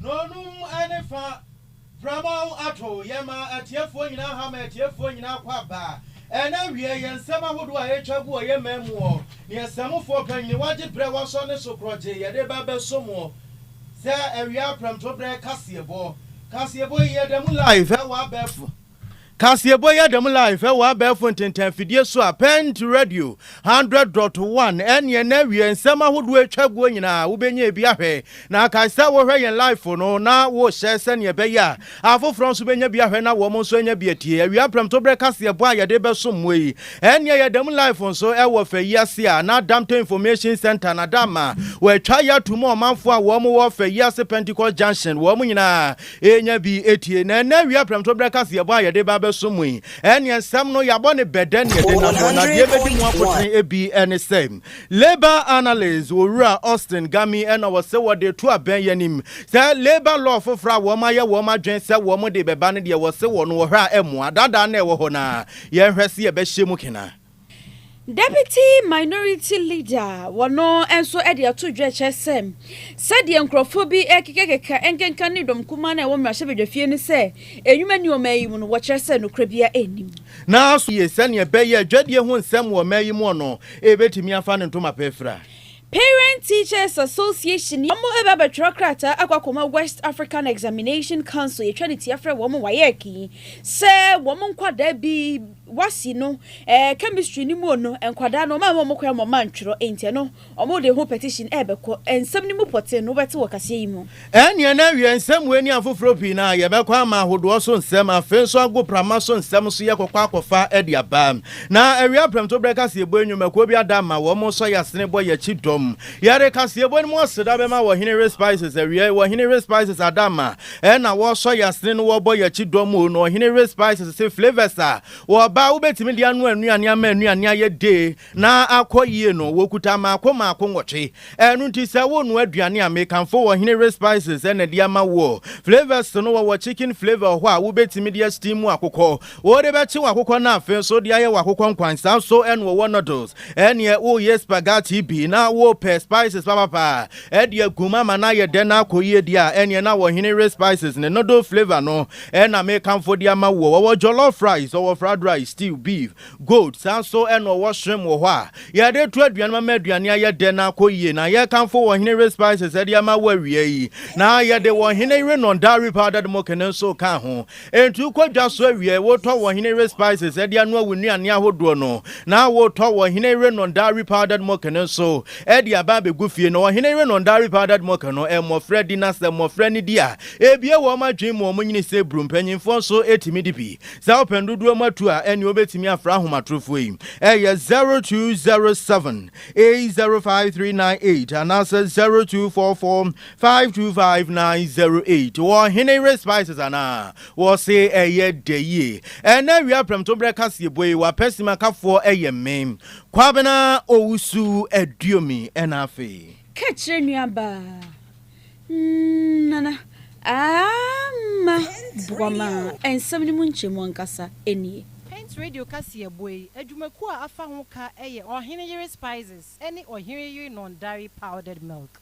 Nonum ne fa Pramaw ato yɛn ma atiefoɔ nyinaa ha ma atiefoɔ nyinaa kɔ aba ɛna awiɛ yɛn nsɛm ahodoɔ a ɛretwa gu wɔ yɛn man muɔ ne ɛsɛmufoɔ panyini wagye berɛ wasɔ ne so korɔgye yɛde ba bɛso muɔ sɛ awia prɛmtoberɛ kaseɛbɔ kaseɛbɔ yi yɛda mu live ɛwɔ abɛɛfo Kaseɛbɔ yɛ dɛm live wɔ abɛɛfo ntentɛnfidie so a Pɛɛnt Radio 100 dot 1 ɛneɛ na awie nsɛm ahodoɔ atwa guo nyinaa wobɛnya bi ahwɛ na kae sɛ wohwɛ yɛn live no na wohyɛ sɛneɛ ɛbɛyɛ a afoforɔ nso bɛnya bi ahwɛ na wɔn nso anya bi atie awia prɛmtoberɛ kaseɛbɔ a yɛde bɛsom mo yi ɛneɛ yɛ dɛm live nso ɛwɔ fa yi ase a na Damto Information Center na da ma wɔatwa yɛ ato mu ɔmanfoɔ a wɔn wɔ fa yi ase Pentecost Junction wɔn nyinaa Yɛnya bi tie, na ɛnnɛ awia prɛmto berɛ ka sɛ yɛbɔ a yɛde ba abɛso mo yi, ɛnneɛ nsɛm no yɛabɔ ne bɛ dɛn na yɛde nam hɔ, na deɛ ɛbɛdi mu akotene bi ne sɛ, Labour Analyst Owura Austin Gami na wɔse wɔde reto abɛn yɛn anim sɛ Labour Law foforɔ a wɔayɛ wɔn adwene sɛ wɔde rebɛba no deɛ wɔse wɔn wɔ hɔ a ɛmmoa, daadaa na ɛwɔ hɔ no ara, yɛnhwɛ sɛ yɛbɛhyɛ mu kena. Deputy Minority Leader wɔ no nso de ato dwa kyerɛ sɛ sɛdeɛ nkorɔfoɔ bi rekekakeka nkenka ne dɔm kumaa no a ɛwɔ mmarahyɛbadwafie no sɛ ɛnwuma nni ɔman yi mu no, wɔkyerɛ sɛ nokorɛ biara nnim. Naaso ye sɛnea ɛbɛyɛ dwadie ho nsɛm wɔ ɔman yi mu ɔno, ɛbɛtumi afa ne ntoma pa afira. Parent Teachers Association yɛ wɔn reba abɛtwerɛ krataa akɔ akɔma West African Examination Council yɛtwa no tia frɛ wɔn WAEC yi sɛ wɔn nkwadaa bi wɔasi no ɛɛ chemistry no mu no nkwadaa no wɔn amma wɔn kwan wɔn antwerɛ enti ɛno wɔn de ho petition ɛrebɛkɔ nsɛm no mu pɔtee no wobɛte wɔ kaseɛ yi mu. Ɛnneɛ na awie nsɛmmoa ani afoforɔ pii no a yɛbɛkɔ ama ahodoɔ so nsɛm, afei nso agoprama so nsɛm nso yɛkɔkɔ akɔfa de aba. Na awie aprɛmto berɛ kaseɛbɔ yi nnwumakuo bi ada ma wɔsɔ yɛn asene bɔ yɛn akyi dɔm. Yɛde kaseɛbɔ no mu aseda bɛma Ɔhene Ray Spices awiei. Ɔhene Ray Spices ada ma ɛna wɔsɔ yɛn asene no wɔbɔ yɛn akyi dɔm o. Na Ɔhene Ray Spices se flavours a wɔba a wobɛtumi de anoa nnuane ama nnuane ayɛ dee na akɔ yie no wɔkuta mmaako mmaako nwɔtwe. Ɛno nti sɛ wonoa aduane a, mekamfo wɔ hene we spices ɛna de ama woɔ. Flavours no wɔwɔ chicken flavour wɔ hɔ a wobɛtumi de asteam akokɔ, wode bɛkye w'akokɔ no afei nso wode ayɛ w'akokɔ nkwan saa nso ɛna wɔwɔ noodles. Ɛneɛ woyɛ spaghetti bi na wopɛ spices papapa de agu mu ama no ayɛ dɛ na akɔ yie deɛ a ɛneɛ na wɔ hene we spices ne noodle flavour no ɛna mekamfo de ama woɔ. Wɔwɔ jollof rice, wɔwɔ fried rice, stew, beef. Gold san so na ɔwɔ hyerɛm wɔ hɔ a yɛde to aduane ma ma aduane ayɛ dɛ na akɔ yie, na yɛkamfo wɔ ɔhene yere spices de ama wo awia yi, na yɛde wɔ ɔhene yere non dairy powdered milk no nso ka ho. Enti wokɔ dwa so awie a wotɔ wɔ ɔhene yere spices de anoa wo nnuane ahodoɔ no, na wotɔ wɔ ɔhene yere non dairy powdered milk no nso de aba abɛgu fie, na ɔhene yere non dairy powdered milk no mmɔfra di, na sɛ mmɔfra no di a, ɛbue wɔn adwene mu, wɔn nyini sɛ buru, mpanyinfoɔ nso tumi di bi, Sɛ wopɛ dodoɔ mu atuo a, ɛneɛ wobɛtumi afrɛ ahomatorofoɔ yi, ɛyɛ 0207 805398 anaasɛ 0244 525908. Wɔ Ɔhene Yere Spices anaa? Wɔse ɛyɛ dɛ yie. Ɛnnɛ awia prɛmtoberɛ kaseɛbɔ yi, w'apɛsimakafoɔ yɛ me, Kwabena Owusu Aduomi. Ɛna afei. Ka kyerɛ nuabaa. Nana, Aamma Boama nsɛm no mu nkyɛmu ankasa nie. Paint Radio kaseɛbɔ yi adwumakuo a afa ho ka yɛ Ɔhene Yere Spices ne Ɔhene Yere Non Dairy Powdered Milk.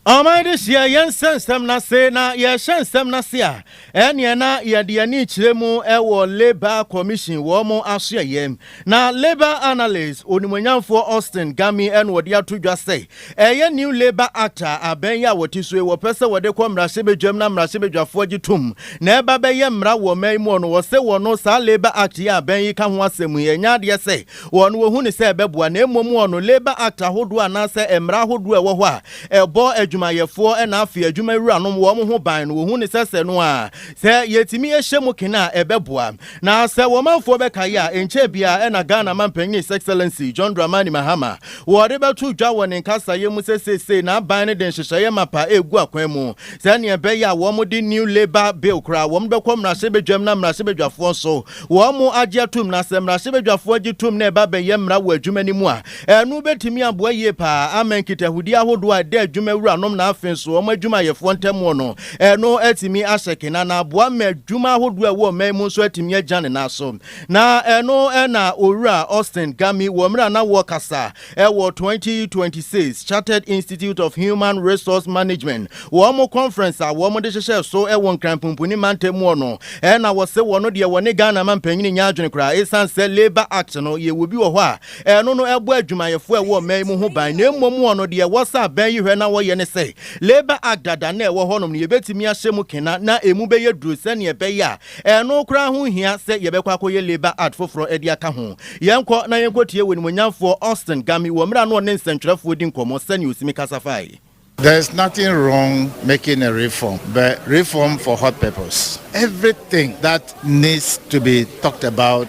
Ɔman de hyɛ yɛn nsa nsɛm no ase, na yɛrehyɛ nsɛm no ase a, ɛnneɛ na yɛde yɛn ani rekyerɛ mu wɔ Labour Commission wɔn asoɛeɛ. Na Labour analyst onimuonyamfoɔ Austin Gami na ɔde ato dwa sɛ, ɛyɛ New Labour Act a abɛn yi a wɔte so yi wɔpɛ sɛ wɔde kɔ mmarahyɛbadwam na mmarahyɛbadwafoɔ gye tom na ɛba bɛyɛ mmara wɔ ɔman yi mu no, wɔse wɔno saa Labour Act yi a abɛn yi ka ho asɛm yi, ɛnyɛ adeɛ sɛ wɔn wɔhu no sɛ ɛbɛboa, na mmom wɔn no Labour Act ahodoɔ anaasɛ mmara ahodoɔ a ɛwɔ hɔ a ɛbɔ adwumayɛfoɔ na afei adwumawuranom wɔn ho ban no wɔhu no sɛ sɛ no a sɛ yɛtumi hyɛ mu kene a ɛbɛboa. Na sɛ wɔmanfoɔ bɛkae a, ɛnkyɛɛ biara na Ghana Mampanin His Excellency John Dramani Mahama wɔde bɛto dwa wɔ ne nkasaeɛ mu sɛ seesei n'aban no de nhyehyɛeɛ mapa regu akwan mu sɛdeɛ ɛbɛyɛ a wɔde New Labour Bill koraa wɔde bɛkɔ mmarahyɛbadwam na mmarahyɛbadwafoɔ nso wɔagye atom na sɛ mmarahyɛbadwafoɔ gye tom na ɛba bɛyɛ mmara wɔ adwuma no mu a, ɛno bɛtumi aboa yie paa ama nkitahodie ahodoɔ a ɛda adwuma wuranom na afei nso wɔn adwumayɛfoɔ ntamuo no, ɛno atumi ahyɛ kena na aboa ma adwuma ahodoɔ a ɛwɔ ɔman yi mu nso atumi agya ne nan so. Na ɛno na Owura Austin Gami wɔ mmerɛ a na wɔrekasa Ɛwɔ twenty twenty six Chartered Institute of Human Resource Management wɔn conference a wɔn de hyehyɛɛ so wɔ Nkran Pumpuni Mantam mu hɔ no na wɔse wɔn deɛ wɔne Ghana manpanyin nnya adwene koraa ɛsiane sɛ Labour Act no yɛwɔ bi wɔ hɔ a ɛno no ɛbɔ adwumayɛfoɔ a ɛwɔ ɔman yi mu ho ban na mmom wɔn deɛ wɔsa abɛn yi hwɛ na wɔyɛ ne sɛ Labour Act dada no a ɛwɔ hɔnom no yɛbɛtumi ahyɛ mu kena na ɛmu bɛyɛ duru sɛdeɛ ɛbɛyɛ a Ɛno koraa ho nhia sɛ yɛbɛkɔ akɔyɛ labour art foforɔ de aka ho. Yɛnkɔ na yɛnkɔtie w'animuonyamfoɔ Austin Gami wɔ mmerɛ a na ɔne nsɛntwerɛfoɔ redi nkɔmmɔ sɛnea ɔsimi kasa fae. There's nothing wrong making a reform but reform for what purpose? Everything that needs to be talked about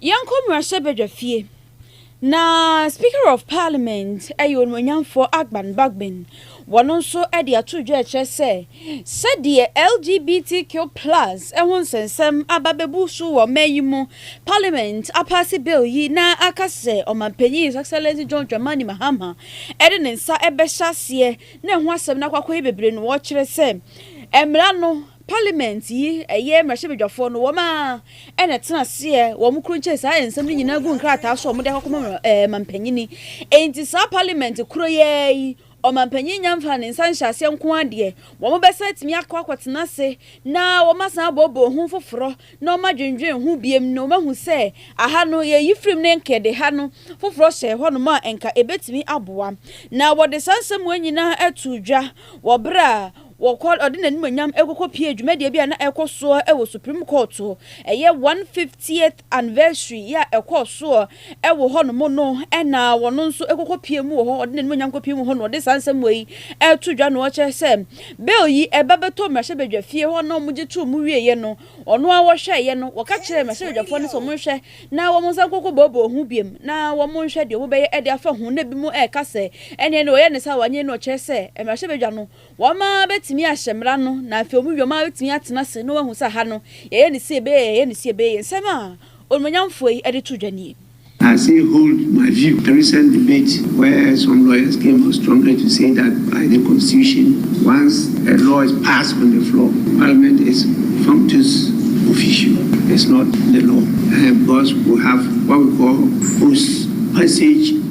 Yɛnkɔ mmarahyɛbadwafie na Speaker of Parliament ɛyɛ onuonyamfoɔ Agban Bagbin wɔn nso de ato dwa kyerɛ sɛ sɛdeɛ LGBTQ plus ho nsɛnsɛm aba bɛbu so wɔ mɛ yi mu Parliament apaase bill yi na aka sɛ Ɔmanpanyin His Excellency John Dramani Mahama de ne nsa bɛhyɛ aseɛ na ɛho asɛm no akɔ akɔyɛ bebree no wɔkyerɛ sɛ mmara no Parliament yi ɛyɛ mmarahyɛbadwafoɔ no wɔn ara na ɛtena aseɛ wɔn koro nkyɛn saa nsɛm no nyinaa gu nkrataa so a wɔn de akɔkɔma ɔmampanyini enti saa parliament koro yi ara yi ɔmampanyini nya mfaa ne nsa nhyɛ aseɛ nko ara deɛ wɔn bɛsan atumi akɔ akɔtena ase na wɔn asan aboɔboɔ ho foforɔ na wɔn adwendwen ho biom na wɔn ahu sɛ aha no yɛyi firim ne nka yɛde ha no foforɔ hyɛ hɔ nom a nka ɛbɛtumi aboa na wɔde saa nsɛm wei nyinaa ato dwa wɔ berɛ a Wɔkɔ, ɔde n'animuonyam rekɔkɔpue dwumadie bi a na ɛrekɔ soɔ wɔ Supreme Court, ɛyɛ 150th anniversary yi a ɛkɔɔ soɔ wɔ hɔ nom no na ɔno nso kɔkɔpue mu wɔ hɔ, ɔde n'animuonyam kɔpue mu hɔ na ɔde saa nsɛm wei reto dwa na ɔrekyerɛ sɛ bill yi ɛba bɛtɔ mmarahyɛbadwafie hɔ na wɔgye too mu wieeɛ no, ɔno ara wɔhwɛeɛ no, wɔka kyerɛɛ mmarahyɛbadwafoɔ no sɛ wɔnhwɛ na wɔnsan nkɔkɔboaboa ho bio na wɔnhwɛ deɛ wɔbɛyɛ de afa ho na binom reka sɛ ɛnneɛ no ɔyɛ ne saa a wanyɛ yi na ɔkyerɛ sɛ mmarahyɛbadwa no Wɔn ara bɛtumi ahyɛ mmara no, na afei wɔn yoma bɛtumi atena ase na wɔahu sɛ ha no, yɛyɛ no sie bee, yɛyɛ no sie bee. Nsɛm a onuonyamfoɔ yi de to dwa nie. I still hold my view. A recent debate where some lawyers came out strongly to say that by the constitution, once a law is passed on the floor, parliament is functus officio, it's not the law, because we have what we call post passage.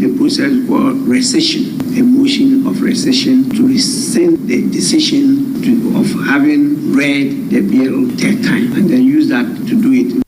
The process called rescission, a motion of rescission to rescind the decision to of having read the bill third time and then use that to do it.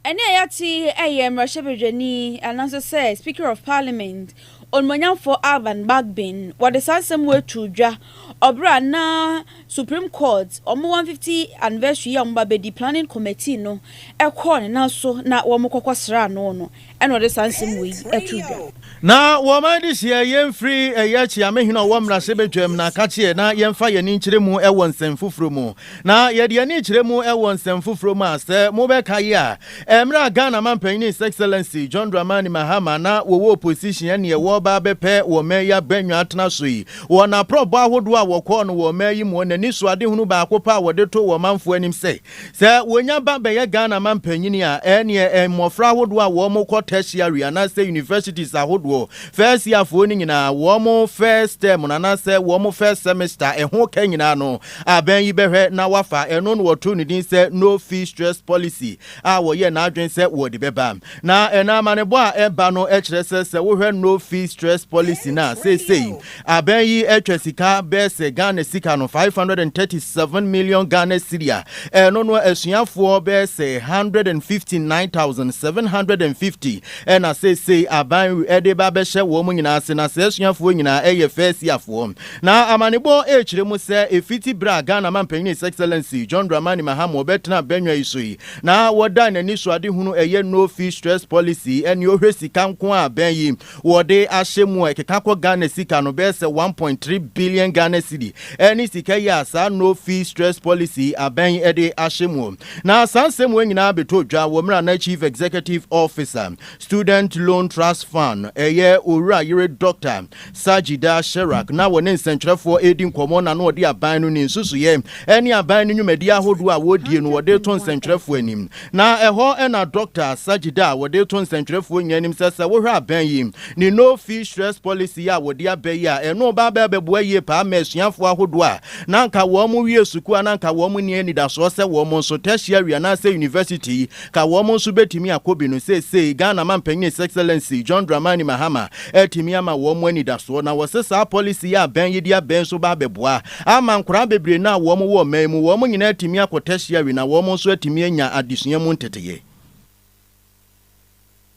Ɛnne a yɛate yi yɛ mmarahyɛbadwani anaasɛ sɛ Speaker of Parliament, Onimonyamfoɔ Alban Bagbin, wɔde saa nsɛm wei too dwa Ɔbra a na Supreme Court wɔn 150 anniversary yi a wɔba bɛdi, planning committee no kɔɔ ne nan so na wɔn kɔkɔ sraa no no ɛna ɔde saa nsɛm wei to dwa. Na wɔn adehyeɛ yɛn firi ɛyɛ kyeame hene ɔwɔ mmarahyɛbadwam na ka kyeɛ na yɛn fa yɛn ani nkyerɛ mu wɔ nsɛm foforɔ mu. Na yɛde yɛn ani kyerɛ mu wɔ nsɛm foforɔ mu a, sɛ mobɛkae a, mmerɛ a Ghana Mampanin His Excellency John Dramani Mahama na wɔwɔ opposition ɛnneɛ wɔreba abɛpɛ wɔ mmaa yi abannwa atena so yi, wɔ n'aprɔbɔ ahodoɔ a wɔkɔɔ no wɔ mmaa yi muɔ, n'anisoadehunu baako pɛ a wɔde too wɔ manfoɔ anim sɛ, sɛ wɔnya ba bɛyɛ Ghana Mampanin a, ɛnneɛ mmɔfra ahodoɔ a wɔkɔ tertiary anaasɛ universities ahodoɔ, first yearfoɔ no nyinaa, wɔn first term no anaasɛ wɔn first semester, ɛho ka nyinaa no, Abɛn yi bɛhwɛ na wɔafa ɛno na wɔtoo no din sɛ No Fee Stress Policy a wɔyɛɛ n'adwene sɛ wɔde bɛba. Na ɛnna amanebɔ a ɛba no kyerɛ sɛ sɛ wohwɛ No Fee Stress Policy no a, seesei abɛn yi twa sika bɛyɛ sɛ Ghana sika no 537 million Ghana cedi a ɛno no asuafoɔ bɛyɛ sɛ 159,750 na seesei aban de reba abɛhyɛ wɔn nyinaa ase. Na saa asuafoɔ nyinaa yɛ fɛɛsiafoɔ. Na amanebɔ rekyerɛ mu sɛ ɛfiti berɛ a Ghana Manpanin His Excellency John Dramani Mahama ɔbɛtenaa badwa yi so yi na wɔdaa n'anisoadehunu ɛyɛ No Fee Stress Policy ɛne ɔhwɛ sika nko a bɛn yi wɔde ahyɛ mu a ɛkeka kɔ Ghana sika no bɛyɛ sɛ one point three billion Ghana cedi ɛne sika yi a saa No Fee Stress Policy abɛn yi ɛde ahyɛ mu. Na saa nsɛm wei nyinaa bɛtɔ dwa wɔ mmerɛ a na Chief Executive Officer Student Loan Trust Fund ɛyɛ Owura Yere Dɔkta Sajida Sherak na wɔne nsɛnkyerɛfoɔ redi nkɔmmɔ na na ɔde aban no ne nsusuiɛ ne aban no nnwumadie ahodoɔ a wɔredie no ɔde reto nsɛnkyerɛfoɔ anim. Na ɛhɔ na Dɔkta Sajida a wɔde reto nsɛnkyerɛfoɔ nyinaa anim sɛ, sɛ wohwɛ aban yi ne No Fee Stress Policy yi a wɔde aba yi a, ɛno ba abɛ abɛboa yie paa ama asuafoɔ ahodoɔ a na anka wɔn wie sukuu a na anka wɔn nni anidasoɔ sɛ wɔn nso tertiary anaasɛ university ka wɔn nso bɛtumi akɔ bi no, seesei Ghana Mampanyin His Excellency John Dramani Mahama atumi ama wɔn anidasoɔ na wɔse saa policy yi a bɛn yi de abɛn nso ba abɛboa ama nkwadaa bebree no a wɔn wɔ ɔman yi mu, wɔn nyinaa atumi akɔ tertiary na wɔn nso atumi anya adesua mu nteteeɛ.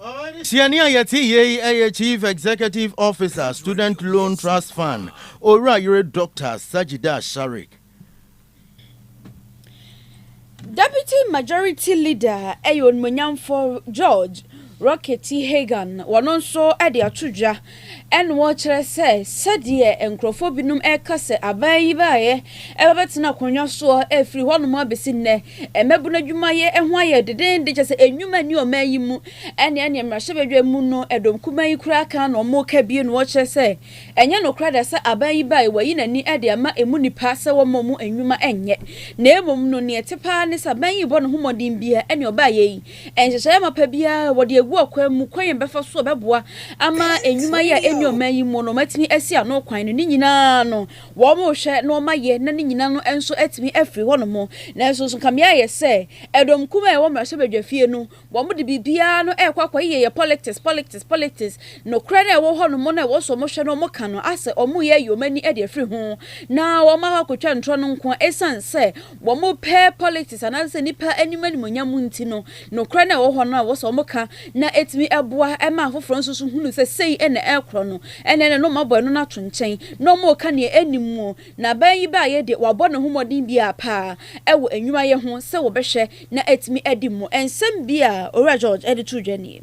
Suani a yɛte yie yi yɛ Chief Executive Officer, Student Loan Trust Fund, Owura Yere Dɔkta Sajidah Sharik. Deputy Majority Leader yɛ Onimuonyamfo George Rockety Hagan, wɔno nso de ato dwa Ɛnna wɔkyerɛ sɛ sɛdeɛ nkurɔfoɔ binom reka sɛ aban yi baeɛ ɛbɛbɛtena akonnwa soɔ ɛfiri hɔnom abɛsi nnɛ, mmabunu adwumayɛ ho ayɛ denenden kyerɛ sɛ nnwuma nni ɔman yi mu, ɛnna ɛnneɛ mmarahyɛbadwa mu no dɔm kumaa yi koraa ka na wɔka bio na wɔkyerɛ sɛ ɛnyɛ nokorɛ da sɛ aban yi baeɛ wayi n'ani de ama ɛmu nnipa sɛ wɔmma wɔn nnwuma nyɛ na mmom no deɛ ɛte paa ne sɛ aban yi rebɔ ne ho mmɔden biara ɛnna ɔbaeɛ yi Nhyehyɛe mapa biara a wɔde agu ɔkwan mu, kwan a ɛbɛfa so a ɛbɛboa ama nnwuma yɛ a enni ɔman yi mu no atumi asi ano kwan no, ne nyinaa no, wɔrehwɛ na wɔayɛ na ne nyinaa no nso atumi afiri hɔnom. Nanso nso, nka me ara yɛ sɛ ɛdɔm kumaa a ɛwɔ mmarahyɛbadwafie no, wɔde biribiara no rekɔ akɔyeyɛ yɛ politics, politics, politics. Nokorɛ no a ɛwɔ hɔnom no a ɛwɔ sɛ wɔhwɛ na wɔka no asɛ wɔreyɛ ayi wɔn ani de afiri ho na wɔakɔ akɔtwa ntorɔ no nko ara, esiane sɛ wɔpɛ politics anaasɛ nnipa anim animuonyam nti no, nokorɛ no a ɛwɔ hɔ no a ɛwɔ sɛ wɔka na ɛtumi boa ma afoforɔ nso so hunu sɛ sei na ɛrekorɔ no, ɛnneɛ na wɔn abɔ ɛno no ato nkyɛn na wɔreka deɛ ɛnnim mu. Na bɛn yi baeɛ deɛ, wɔabɔ ne ho mmɔden biara pa ara wɔ nnwuma yɛ ho sɛ wɔbɛhwɛ na atumi adi mu. Nsɛm bi a Owura George de too dwa nie.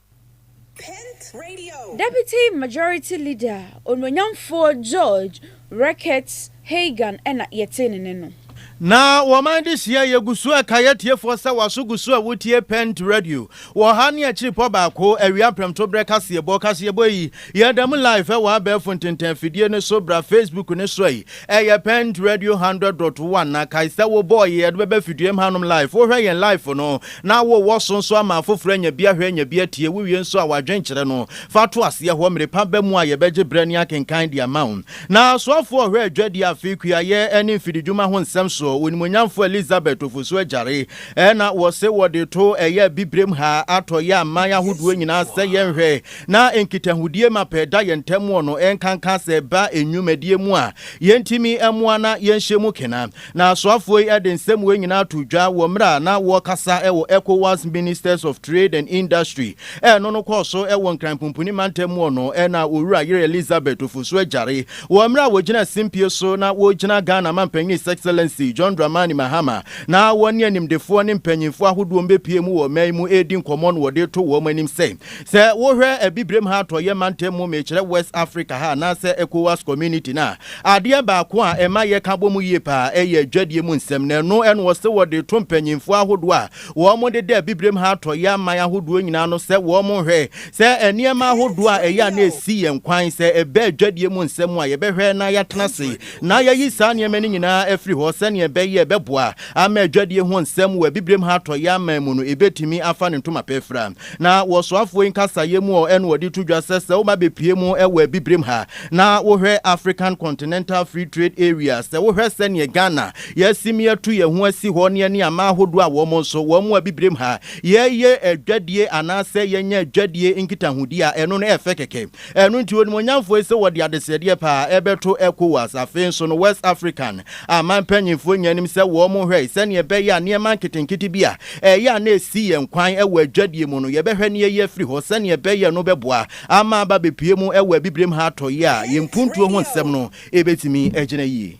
Deputy Majority Leader Onuonyamfoɔ George Reckitt Hagan na yɛtee ne nne no. Na wɔman de hyia yɛ gu so ɛkae atiefoɔ sɛ waso gu so a wotie Pent Radio wɔ ha ne akyiripɔ baako awia prɛmtoberɛ kaseɛbɔ kaseɛbɔ yi yɛda mu live ɛwɔ abɛɛfo ntentɛn afidie no so bra Facebook no so yi Ɛyɛ Pent Radio Hundred Dot One na kae sɛ wobɔɔ yɛ yɛde bɛba fiduem hanom live. Wohwɛ yɛn live no na wowɔ so nso ama afoforo anya bi ahwɛ anya bi atie. Wowie nso a w'adwene kyerɛ no fa to aseɛ hɔ mmere pa ba mu a yɛbɛgye berɛ ne akenkan de ama wo. Na soafoɔ ɔhwɛ adwadie afe kuayɛ ne mfididwuma ho nsɛm so Onimuonyamfoɔ Elizabeth Ofosu Agyare na wɔse wɔde to ɛyɛ abibirem ha atɔ yɛ aman ahodoɔ nyinaa sɛ yɛnhwɛ na nkitahodie ma pɛ da yɛn ntam wɔ no, ɛnkanka sɛ ɛba nnwumadie mu a yɛntumi mmoa na yɛnhyɛ mu kena. Na asoafoɔ yi de nsɛm wei nyinaa too dwa wɔ mmerɛ a na wɔrekasa wɔ Ecowas Ministers of Trade and Industry ɛno no kɔɔ so wɔ Nkran Pumpuni mantam mu wɔ no na Owura Yere Elizabeth Ofosu Agyare wɔ mmerɛ a wɔgyina simpie so na wɔregyina Ghana Mampanin His Excellency John Dramani Mahama na wɔne animdefoɔ ne mpanyinfoɔ ahodoɔ mbɛpue mu wɔ ɔman mu ɛredi nkɔmmɔ no wɔde reto wɔn anim sɛ Sɛ wohwɛ Abibirem ha Atɔeɛ mantam mu, mekyerɛ West Africa ha anaasɛ Ecowas Community no a, adeɛ baako a ɛma yɛka bɔ mu yie paa ɛyɛ adwadie mu nsɛm, na ɛno ɛna ɔse wɔde to mpanyinfoɔ ahodoɔ a wɔde da Abibirem ha Atɔeɛ aman ahodoɔ nyinaa no sɛ wɔnhwɛ sɛ nneɛma ahodoɔ a ɛyɛ a na ɛsi yɛn kwan sɛ ɛba adwadie mu nsɛm mu a yɛbɛhwɛ na yɛatena ase na yɛayi saa nneɛma no nyinaa afiri hɔ sɛnea ɛbɛyɛ ɛbɛboa ama adwadie ho nsɛm wɔ Abibirem ha Atɔeɛ aman mu no ɛbɛtumi afa ne ntoma pɛ fira. Na wɔ soafoɔ yi nkasayɛ mu ɔ ɛna wɔde to dwa sɛ sɛ wo ba bɛpue mu wɔ abibirem ha na wo hwɛ African Continental Free Trade Area, sɛ wo hwɛ sɛdeɛ Ghana yɛasim yɛatu yɛn ho asi hɔ ne ɛne aman ahodoɔ a wɔn nso wɔn wɔ abibirem ha yɛyɛ adwadie anaasɛ yɛnya adwadie nkitahodie a ɛno no ɛfɛ kɛkɛ. Ɛno nti, onimuonyamfoɔ yi se wɔde adesrɛdeɛ pa ara rebɛto Ecowas. Afei nso no, West African aman mpanimfoɔ nyaa anim sɛ wɔhwɛe sɛnea ɛbɛyɛ a nneɛma nketenkete bi a ɛyɛ a na ɛsi yɛn kwan wɔ adwadie mu no, yɛbɛhwɛ na yɛayi afiri hɔ sɛnea ɛbɛyɛ no bɛboa ama aba abɛpue mu wɔ abibirem ha atɔeɛ a yɛn mpuntuo ho nsɛm no bɛtumi agyina yie.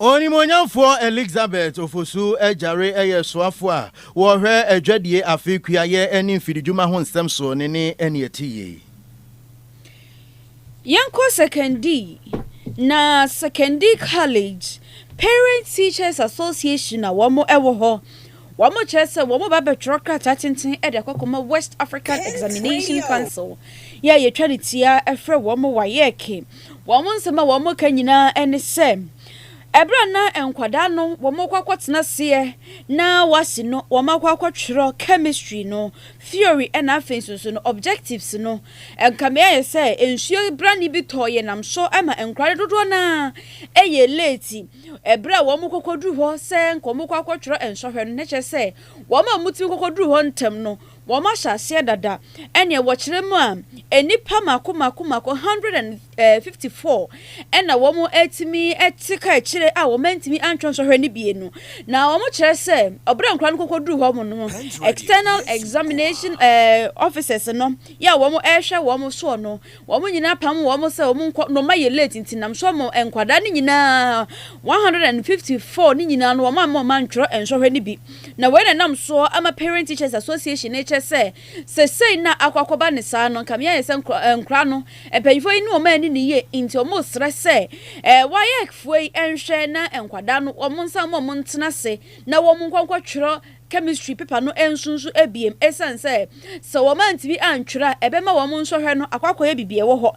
Onimuonyamfoɔ Elixabeth Ofosu Agyare yɛ soafo a ɔhwɛ adwadie afe kuayɛ ne mfididwuma ho nsɛm so ne ne ɛne ɛte yie. Yɛnkɔ Sekondi, na Sekondi College Parents Teachers Association a wɔn wɔ hɔ, wɔn kyerɛ sɛ wɔn ba bɛtwerɛ krataa tenten de akɔ akɔma West African Examination Council, yɛ a yɛtwa ne tia frɛ wɔn WAEC, Wɔn nsɛm a wɔka nyinaa ne sɛ, ɛberɛ a na nkwadaa no wɔkɔ akɔtena aseɛ na wɔasi no, wɔakɔ akɔtwerɛ chemistry no theory na afei nso nso no objectives no. Nka meayɛ sɛ nsuo brane bi tɔɔ yɛn nam so ma nkwadaa no dodoɔ no ara ɛyɛ late. Ɛberɛ a wɔkɔkɔduru hɔ sɛ nka wɔkɔ akɔtwerɛ nsɔhwɛ no, na kyerɛ sɛ wɔn a wɔtumi kɔkɔduru hɔ ntɛm no, Wɔahyɛ aseɛ dada. Ɛnneɛ wɔkyerɛ mu a, nnipa mako mako mako, 154, na wɔatumi te kaakyire a wɔantumi antwerɛ nsɔhwɛ no bi no. Na wɔkyerɛ sɛ, berɛ a nkwadaa no kɔkɔduru hɔ no, External Examination Officers no, yɛ a wɔrehwɛ wɔn soɔ no, Wɔn nyinaa pam wɔn sɛ wɔn nkɔ no ma yɛ late nti nam so wɔn nkwadaa no nyinaa one hundred and fifty four no nyinaa no wɔn amma wɔn antwerɛ nsɔhwɛ no bi na wei na ɛnam soɔ ama Parent Teachers Association no rekyerɛ sɛ sesei no a akɔ akɔba no saa no nka meayɛ sɛ nkwadaa no mpanyinfoɔ yi ne wɔn anni no yie nti wɔn resrɛ sɛ ɛɛ WAEC foɔ yi nhwɛ na nkwadaa no wɔn nsa mma wɔn ntena ase na wɔn nkɔ nkɔtwerɛ Chemistry paper no nso nso abiem esiane sɛ sɛ wɔn antumi antwerɛ a ɛbɛma wɔn nsɔhwɛ no akɔ akɔyɛ biribi a ɛwɔ hɔ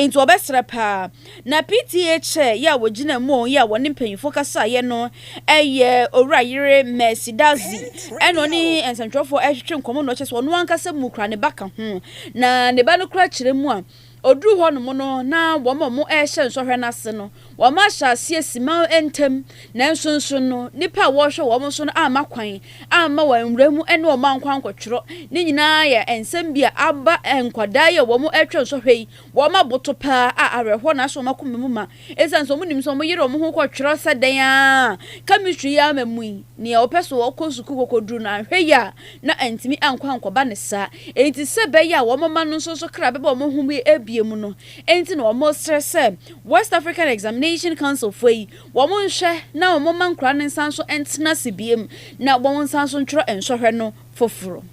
nti wɔbɛsrɛ pa ara. Na PTA Chair yɛ a ɔgyina mu yɛ a ɔne mpanyimfoɔ kasaeɛ no yɛ Owura Yere Mercy Dadzie ɛna ɔne nsɛntwerɛfoɔ retwetwe nkɔmmɔ na ɔkyerɛ sɛ ɔno ankasa mu koraa ne ba ka ho na ne ba no koraa kyerɛ mu a Ɔduruu hɔnom no, na wɔn a wɔrehyɛ nsɔhwɛ no ase no, wɔahyɛ aseɛ simaw ntɛm, nanso nso no, nnipa a wɔrehwɛ wɔn so no amma kwan amma wɔanwura mu ne wɔn ankɔ ankɔtwerɛ. Ne nyinaa yɛ nsɛm bi a aba nkwadaa yi a wɔretwa nsɔhwɛ yi, wɔn aboto paa a awerɛhoɔ na ahyɛ wɔn akoma mu ma. Esiane sɛ wɔnim sɛ wɔyere wɔn ho kɔ twerɛ sɛ dɛn ara a, chemistry yi ara mmamui, nea ɔpɛ sɛ ɔkɔ sukuu kɔkɔduru no, anhwɛ yie a, na antumi ankɔ ankɔba ne saa. Enti sɛ ɛbɛyɛ a wɔn mma no nso so kra bɛba wɔn ho mu abue mu no nti na wɔresrɛ sɛ West African Examination Council foɔ yi, wɔnhwɛ na wɔmma nkwadaa no nsan so ntena ase bio na wɔnsan so ntwerɛ nsɔhwɛ no foforo.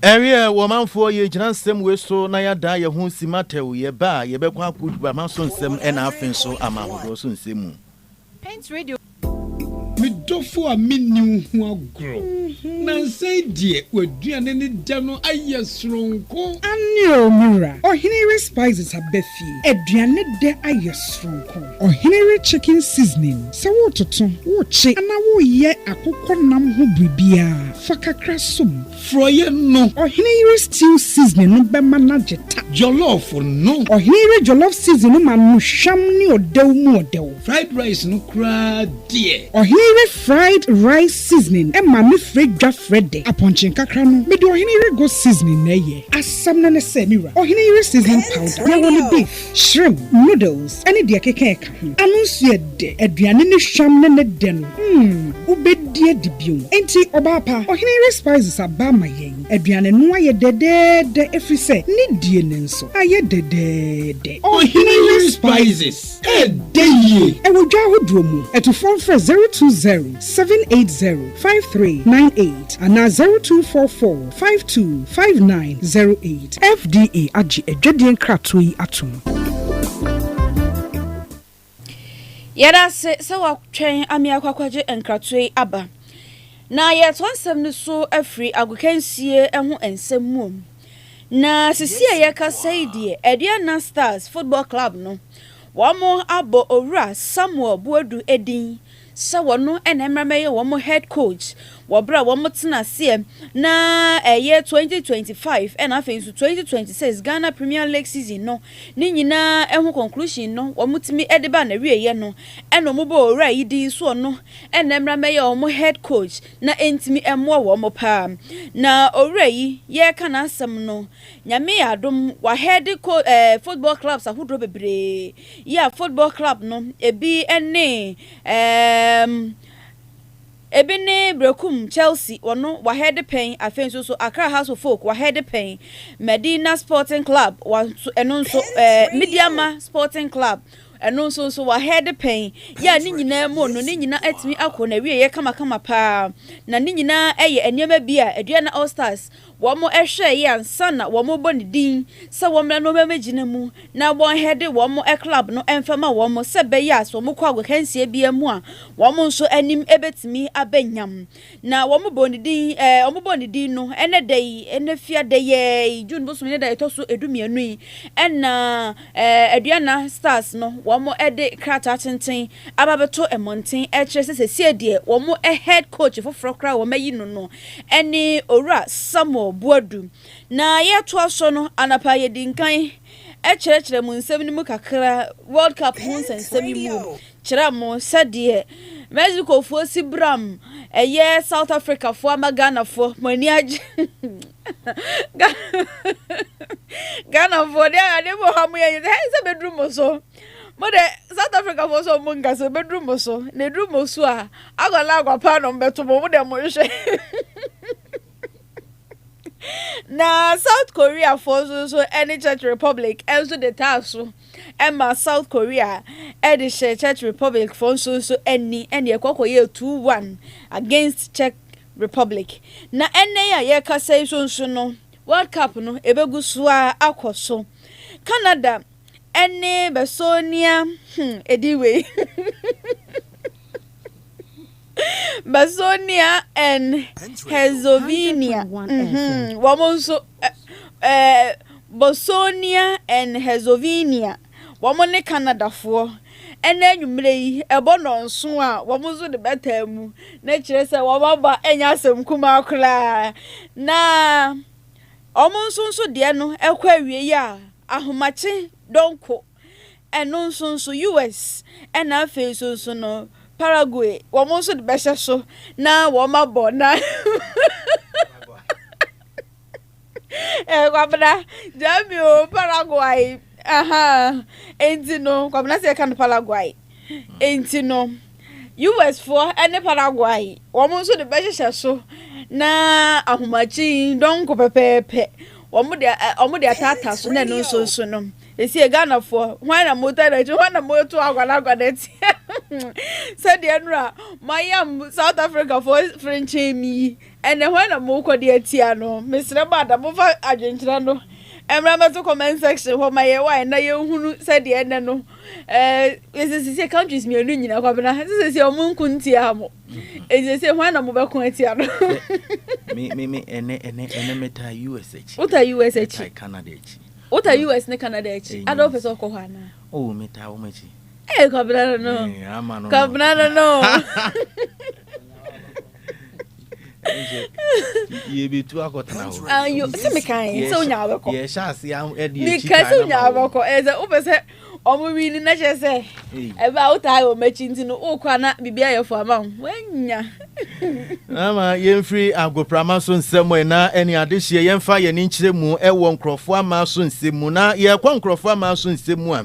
Ɛreɛ wɔ manfoɔ yɛ gyina nsɛm wei so na yɛ adaa yɛ ho si matɛw yɛ ba a yɛ bɛ kɔ ako dwa ma so nsɛm ɛna afe nso ama ahodoɔ so nsɛm mu. Me dɔfo a me nni wo ho agorɔ nansa yi deɛ w'aduane ne dɛ no ayɛ soronko. Aane oo me wura, ɔhene yere spices aba fie, aduane dɛ ayɛ soronko. Ɔhene we chicken seasoning sɛ woretoto, worekye anaa woreyɛ akokɔ nam ho biribiara, fa kakra som. Frɔeɛ no. Ɔhene yere stew seasoning no bɛma no agye ta. Jollof no. Ɔhene yere jollof seasoning no ma no hwam ne ɔdɛw mu ɔdɛw. Fried rice no koraa deɛ. Ɔhene yere fried rice seasoning ma me frɛ dwa frɛ dɛ. Apɔnkye nkakra no, mede ɔhene yere goat seasoning na ɛyɛ. Asɛm no ne sɛ, me wura, ɔhene yere seasoning powder, yɛwɔ no beef. Shrimp, noodles ne deɛ ɛkeka ɛka ho. Ano nso yɛ dɛ. Aduane no hwam ne ne dɛ no, mm, wobɛdi adi bio. Enti, ɔbaa pa, ɔhene yere Spices aba ama yɛn. Aduane no ayɛ dɛdɛɛdɛ ɛfiri sɛ ne die no nso ayɛ dɛdɛɛdɛ. Ɔhene yere Spices, ɛdɛ yie. Ɛwɔ dwa ahodoɔ mu. Atufoɔ mfrɛ 020780. five three nine eight anaa zero two four four five two five nine zero eight. FDA agye adwadie nkratoɔ yi atom. Yɛda ase sɛ watwɛn ama yɛakɔ akɔgye nkratoɔ yi aba. Na yɛretoa nsɛm no so afiri agokansie ho nsɛm mu. Na sisi a yɛkasa yi deɛ, Aduana Stars Football Club no, wɔabɔ Owura Samuel Boadu din sɛ wɔn na ɛmmra mmɛyɛ wɔn head coach wɔ berɛ a wɔtena aseɛ na ɛyɛ 2025 ɛna afei nso 2026 Ghana Premier League season no ne nyinaa ho conclusion no wɔtumi de baa n'awieɛ no ɛna wɔbɔɔ owura yi din sɛ ɔno na ɛmmra mmɛyɛ wɔn head coach na ɛntumi mmoa wɔn paa na owura yi yɛreka n'asɛm no Nyame yɛ adom w'ahead coach ɛɛ football clubs ahodoɔ bebree. Yea Football Club no, ebi ne ɛɛm, ebi ne Berekum Chelsea, wɔno wɔahɛɛde pɛn, afei nso so Accra House of Folk wɔahɛɛde pɛn, Medina Sporting Club wɔnso ɛno nso ɛɛ Midiama Sporting Club ɛno nso nso wɔahɛɛde pɛn, yea ne nyinaa mu no ne nyinaa atumi akɔ n'awieeɛ kamakama paa, na ne nyinaa yɛ nneɛma bi a Aduana All Stars Wɔhwɛɛ yɛ ansa na wɔrebɔ ne din sɛ wɔmmra na wɔmmɛgyina mu na wɔnhɛde wɔn club no mfama wɔn sɛ ɛbɛyɛ a sɛ wɔkɔ agokansie biara mu a wɔn nso anim bɛtumi aba nyam. Na wɔbɔɔ ne din ɛɛ wɔbɔɔ ne din no ɛnɛ da yi ɛnɛ fia da yi ara yi June bosom yi ne da ɛtɔ so du-mmienu yi ɛna ɛɛ Aduana Stars no wɔde krataa tenten aba bɛto mmɔnten ɛrekyerɛ sɛ sesie deɛ wɔn head coach foforɔ koraa a wɔn ayi no no ɛne Owura Samuel Boadu. Na yɛretoa so no, anapa a yɛdi nkan ɛkyerɛkyerɛ mo nsɛm no mu kakra, World Cup ho nsɛnsɛm yi mu kyerɛ mo sɛdeɛ Mexicofoɔ si bram ɛyɛ South Africafoɔ ama Ghanafoɔ mo ani agye Ghanafoɔ deɛ adeɛ bi wɔ hɔ a moyɛ a ɛnyɛ dɛ, hɛn nsa bɛduru mo so. Mo de South Africa fo so mo nka sɛ bɛduru mo so na ɛduru mo so a akɔla akwapaa na ɔmbɛto mo mo de mo nhwɛ na South Korea fo nso nso ɛne Czech Republic ɛnso de taa so ɛma South Korea ɛde hyɛ Czech Republic fo nso nso ɛni ɛne ɛkɔkɔ yɛ 2-1 against Czech Republic na ɛnɛ a yɛkasa yi so nso no World Cup no ɛbɛgu so a akɔ so Canada Ɛne bɛsɔɔnia hmm ɛdin wei Bɛsɔɔnia and Herzegovina mhm wɔn nso ɛɛ Bosnia and Herzegovina wɔn ne Canadafoɔ ɛna anwummerɛ yi ɛbɔ nnɔnso a wɔn nso de bɛtaa mu na kyerɛ sɛ wɔn aba ɛnyɛ asɛm kumaa koraa na. Wɔn nso nso deɛ no ɛkɔ awiei a ahomakye donko ɛno nso nso US ɛna afei nso nso no Paraguay wɔn nso de bɛhyɛ so na wɔn abɔ na ɛɛ kwabena gyami o Paraguay. Ahaa, enti no, Kwabena sɛ yɛka no Paraguay, enti no, US foɔ ne Paraguay, wɔn nso de bɛhyehyɛ so na ahomakye yi dɔnko pɛpɛɛpɛ, wɔn de, wɔn de ataata so na ɛno nso nso no, esie Ghana foɔ, hwan na mo tɛ n'akyi, hwan na mo to agwanagwa n'akyi, sɛdeɛ nnora mo ayam South Africa foɔ fere nkyɛn mi yi, Ɛnde hwan na morekɔ de atia no? Mesrɛ mo ada, momfa adwenkyerɛ no mmra mmɛto comment section hɔ ma yɛn wae na yɛnhunu sɛdeɛ ɛnnɛ no eh, ɛsɛ sɛsɛ countries mmienu nyina Kwabena, ɛsɛ sɛsɛ ɔmo nko ntia mo. Ɛnti sɛsɛ hwan na mobɛko atia no? Me, me, me, ɛnɛ, ɛnɛ, ɛnɛ metaa US akyi. Wota US akyi? Metaa Canada akyi. Wota US ne Canada akyi? Ɛnyɛ Ada wopɛ sɛ ɔkɔ hɔ anaa? Oh, metaa wɔn akyi. Ee, Kwabena no no. Ee, ama no no. Kwabena no no. yɛbɛtu akɔtena hɔ ah, sɛ mekae sɛ wonya wobɛkɔ yɛhyɛ ase ɛde meka sɛ wonya wobɛkɔ ɛyɛ sɛ wopɛ sɛ ɔmo wi no na kyerɛ sɛ ɛbɛ a wotaa wɔ m'akyi nti no wokɔ a na biribi ayɛ fo ama wo woanya ama yɛmfiri agoprama so nsɛm ɛ na ɛne adehyeɛ yɛmfa yɛne nkyerɛ mu ɛwɔ nkurɔfoɔ ama so nsɛm mu na yɛkɔ nkurɔfoɔ ama so nsɛm mu a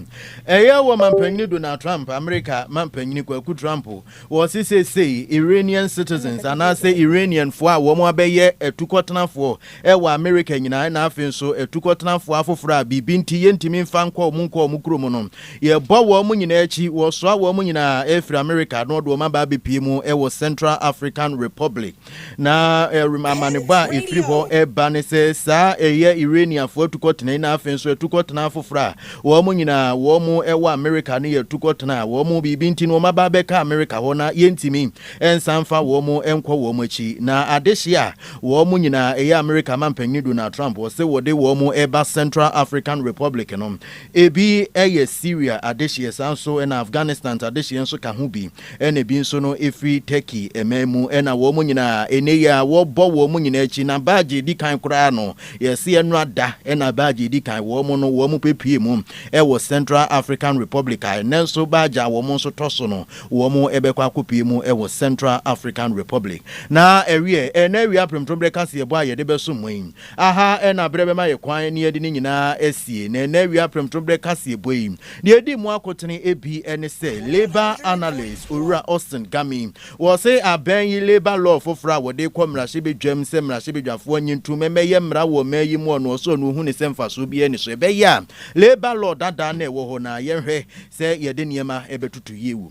ɛyɛ wɔ mampanyini donald trump amerika mampanyini kwaku trump Wɔse seesei Iranian citizens anaasɛ Iranianfoɔ a wɔabɛyɛ atukɔtenafoɔ wɔ Amerika nyinaa na afei nso atukɔtenafoɔ afoforɔ a biribi nti yɛntumi mfa nkɔ wɔn nkɔ wɔn kuro mu no, yɛbɔ wɔn nyinaa akyi, wɔsoa wɔn nyinaa firi Amerika na wɔde wɔn aba abɛpue mu wɔ Central African Republic. Na ɛrem amanebɔ a ɛfiri hɔ ɛba ne sɛ saa ɛyɛ Iraniafoɔ atukɔtena yi na afei nso atukɔtena afoforɔ a wɔn nyinaa wɔn ɛwɔ Amerika no yɛ atukɔtena a wɔn biribi nti no wɔn aba abɛka Amerika hɔ na yɛntumi nsa mfa wɔn nkɔ wɔn akyi na adehye a wɔn nyinaa ɛyɛ Amerika mampanin Donald Trump wɔse wɔde wɔn ɛba Central African Republic no ebi ɛyɛ Syria adehyeɛ saa nso ɛna Afghanistan adehyeɛ nso ka ho bi ɛna bi nso no firi Turkey man mu, ɛna wɔn nyinaa, ɛnnɛ yi ara wɔbɔ wɔn nyinaa akyi, na baagye ɛdi kan koraa no, yɛse ɛnora da, ɛna baagye ɛdi kan, wɔn no wɔn pɛpue mu wɔ Central African Republic, a ɛnnɛ nso baagye a wɔn nso tɔ so no, wɔn bɛkɔ akɔpue mu wɔ Central African Republic. Na ɛweɛ, ɛna awia premtoberɛ kaseɛbɔ a yɛde bɛso mo yi, aha ɛna berɛ bɛma yɛ kwan ne yɛde ne nyinaa asie, na ɛna awia premtoberɛ kaseɛbɔ yi, Deɛ ɛdi mu akotene ebi ne sɛ labour analyst Owura Austin Gami, wɔse abɛn yi labour law foforɔ a wɔde rekɔ mmarahyɛbadwam sɛ mmarahyɛbadwafoɔ nye ntom mmɛyɛ mmara wɔ ɔman yi mu ɔno ɔsɛ ɔno ɔhu ne sɛ mfasoɔ biara nni so ɛbɛyɛ a labour law dadaa no a ɛwɔ hɔ no a yɛnhwɛ sɛ yɛde nneɛma bɛtoto yie wɔ mu.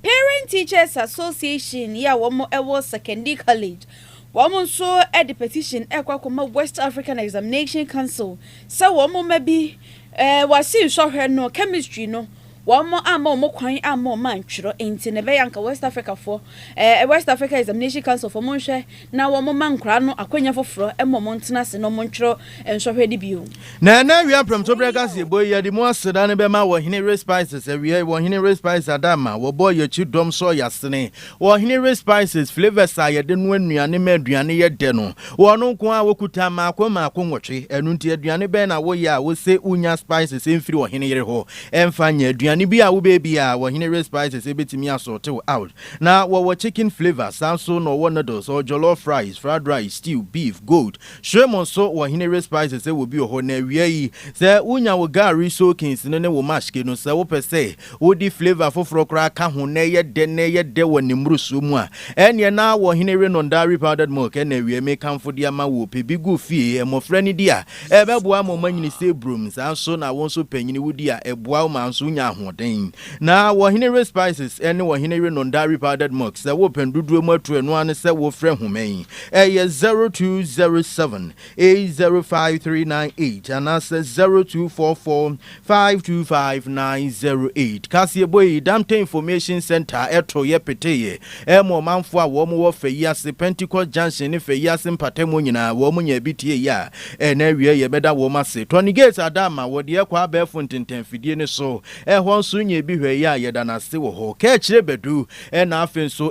Parent Teachers Association yi a wɔn wɔ Sekondi College, wɔn nso de petition rekɔ akɔma West African Examination Council sɛ wɔn mma bi eh, wɔase nsɔhwɛ no, chemistry no, wɔn amma wɔn kwan amma wɔn antwerɛ, nti na ɛbɛyɛ anka West Africa foɔ, eh, West Africa Examination Council foɔ monhwɛ na wɔmma nkwadaa no akwannya foforɔ ma wɔntena ase na wɔntwerɛ nsɔhwɛ no bio. Na ɛnnɛ awia mprɛmto berɛ kaseɛbɔ yi, yɛde mu aseda no bɛma Ɔhene Ray Spices. Awiei, Ɔhene Ray Spices Adamma, wɔbɔɔ yɛn akyi dɔm sɔɔ yɛn asene. Ɔhene Ray Spices flavours a yɛde noa nnuane ma aduane yɛ dɛ no, wɔn nko ara wɔkuta mmaako mmaako nwɔtwe. Ɛno nti, aduane bɛn na woyɛ a wose wonya spices mfiri ɔhene yere hɔ? Ɛmfa nyɛ, aduane bi a wobɛyɛ biara, Ɔhene Ray Spices bɛtumi asɔɔte wo out. Na wɔwɔ chicken flavour, saa nso na wɔwɔ noodles, wɔwɔ jollof rice, fried rice, stew, beef, goat, shrimp nso wɔ Henere Spices sɛ wɔ bi wɔ hɔ. Na awia yi sɛ wonya wo gari soakings no ne wo mashke no, sɛ wopɛ sɛ wode flavour foforɔ koraa ka ho na ɛyɛ dɛ na ɛyɛ dɛ wɔ ne mmorosoɔ mu a, ɛnneɛ na wɔ Henere Nondari powdered milk ɛna awia mekamfo de ama wo. Pɛ bi gu fie, mmɔfra no di a, ɛbɛboa ama wɔanyini sɛ burom, saa nso na wo nso panyini wodi a, ɛboa wo ma nso wonya ahoɔden. Na wɔ Ɔheneyere Spices ne wɔ Ɔheneyere Nondaa Repowdered Mugs, sɛ worepɛn dodoɔ mu atu ɛno ara ne sɛ wofrɛ nhoma yi, ɛyɛ 0207 805 398 anaasɛ 0244 525 908. Kaseɛbɔ yi, Damte Information Centre ɛtoeɛ peteeɛ ma ɔmanfoɔ a wɔn wɔ Fayi ase, Pentecost Junction ne Fayi ase mpatamu nyinaa, wɔn nyaa bi tieeɛ a, ɛnnɛ awieɛ yɛbɛda wɔn ase. Tɔnigate Adama, wɔde ɛkɔ abɛɛfo ntentan afidie no so. Ɛhɔ nso nyɛ bi hwɛ yɛ a yɛda no ase wɔ hɔ. Kaakyire bɛdu na afei nso